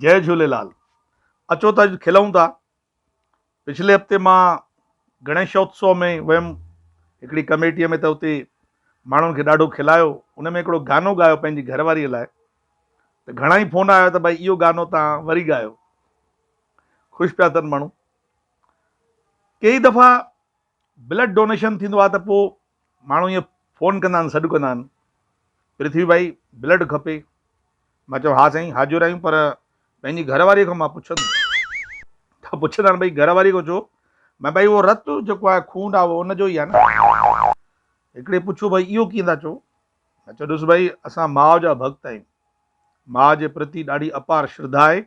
جئي جهوليلال اچو ته اڄ کلئون ٿا پڇلي هفتي مان گڻيش اتسو ۾ ويم هڪڙي ڪميٽيء ۾ ته اتي ماڻهن کي ڏاڍو کلايو ان ۾ هڪڙو گانو ڳايو پنهنجي گهر واريء لاء ته گهڻا ئي فون آيا ته ڀائي اهو گانو تان وري ڳايو خوش پيا ٿين ماڻهو ڪيئي دفعا بلڊ ڊونيشن ٿيندو آهي ته پوء ماڻهو ائين فون ڪندا آهن سڏ ڪندا آهن پرٿوي ڀائي بلڊ کپي مان چيو ها سائين حاضر آهيون پر پنهنجي گهر واري کان مان پڇندس ته پڇندا آهن ڀائي گهر واري کان ڇو ۾ ڀائي اهو رت جيڪو آهي خون آهي اهو ان جو ئي آهي نه هڪڙي پڇيو ڀائي اهو ڪيئن ٿا چئو مان چيو ڏس ڀائي اسان ماء جا ڀڳت آهيون ماء جي پرتي ڏاڍي اپار شرڌا آهي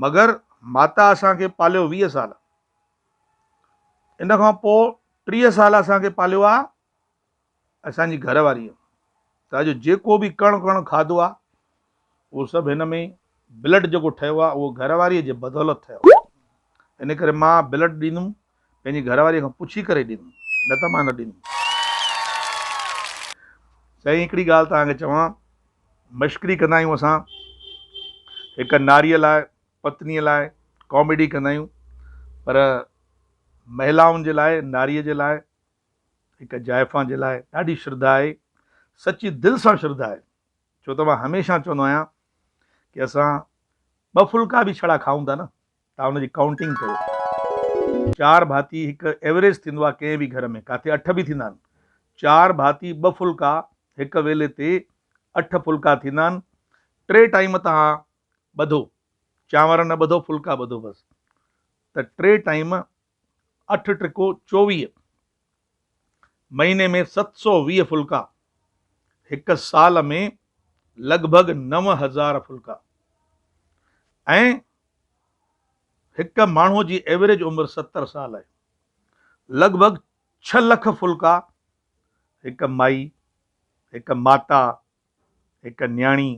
مگر ماتا اسان کي پاليو ويهه سال ان کان پوء ٽيهه سال اسان کي پاليو آ اسان جي گهر واريء ته اڄ جيڪو به ڪڻ ڪڻ کاڌو آ اهو سڀ هن ۾ بلڊ جيڪو ٺهيو آ اهو گهر واريء جي بدولت ٺهيو آ ان ڪري مان بلڊ ڏيندم پنهنجي گهر واريء کان پڇي ڪري ڏيندم نه ته مان نه ڏيندم سائين هڪڙي ڳالهه توهان کي چوان مشڪري ڪندا آهيون اسان هڪ ناريء لاء پتنيء لاء ڪاميڊي ڪندا آهيون پر مهلائن جي لاء، ناريء جي لاء، هڪ جائفان جي لاء ڏاڍي شرڌا آهي، سچي دل سان شرڌا آهي، ڇو ته مان هميشه چوندو آهيان ڪي اسان ٻه ڦلڪا به ڇڙا کائون ٿا نه تان ان جي ڪائونٽنگ ڪيو، چار ڀاتي هڪ ايوريج ٿيندو آهي ڪنهن به گهر ۾ ڪاٿي اٺ به ٿيندا آهن، چار ڀاتي ٻه ڦلڪا هڪ ويلي تي اٺ ڦلڪا ٿيندا آهن، ٽي ٽائيم تان ٻڌو، چانور نه ٻڌو ڦلڪا ٻڌو بس ته ٽي ٽائيم اٺ ٽرڪو چوويهه مهيني ۾ ست سو ويهه ڦلڪا هڪ سال ۾ لڳ ڀڳ نو هزار ڦلڪا ۽ هڪ ماڻهو جي ايوريج عمر ستر سال آهي لڳ ڀڳ ڇهه لک ڦلڪا هڪ مائي هڪ ماتا هڪ نياڻي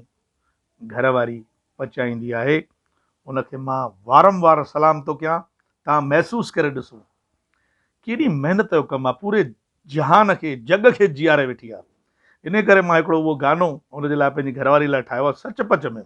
گهر واري پچائيندي آهي ان کي مان وارم وار سلام ٿو ڪيان تان محسوس ڪري ڏسو ڪيڏي محنت جو ڪم آهي پوري جهان کي جڳ کي جياري ويٺي آهي ان ڪري مان هڪڙو اهو گانو ان جي لاء پنهنجي گهر واري لاء ٺاهيو آهي سچ پچ ۾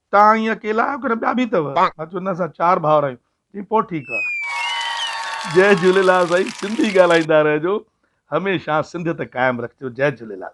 توهان ائين اڪيلا آهيو ڪنهن ٻيا به اٿو؟ مان چيو نه اسان چار ڀائر آهيون. چيائين پوء ٺيڪ آهي. جئي جهوليلال سائين سنڌي ڳالهائيندا رهجو هميشه سنڌيت قائم رکجو جئي جهوليلال.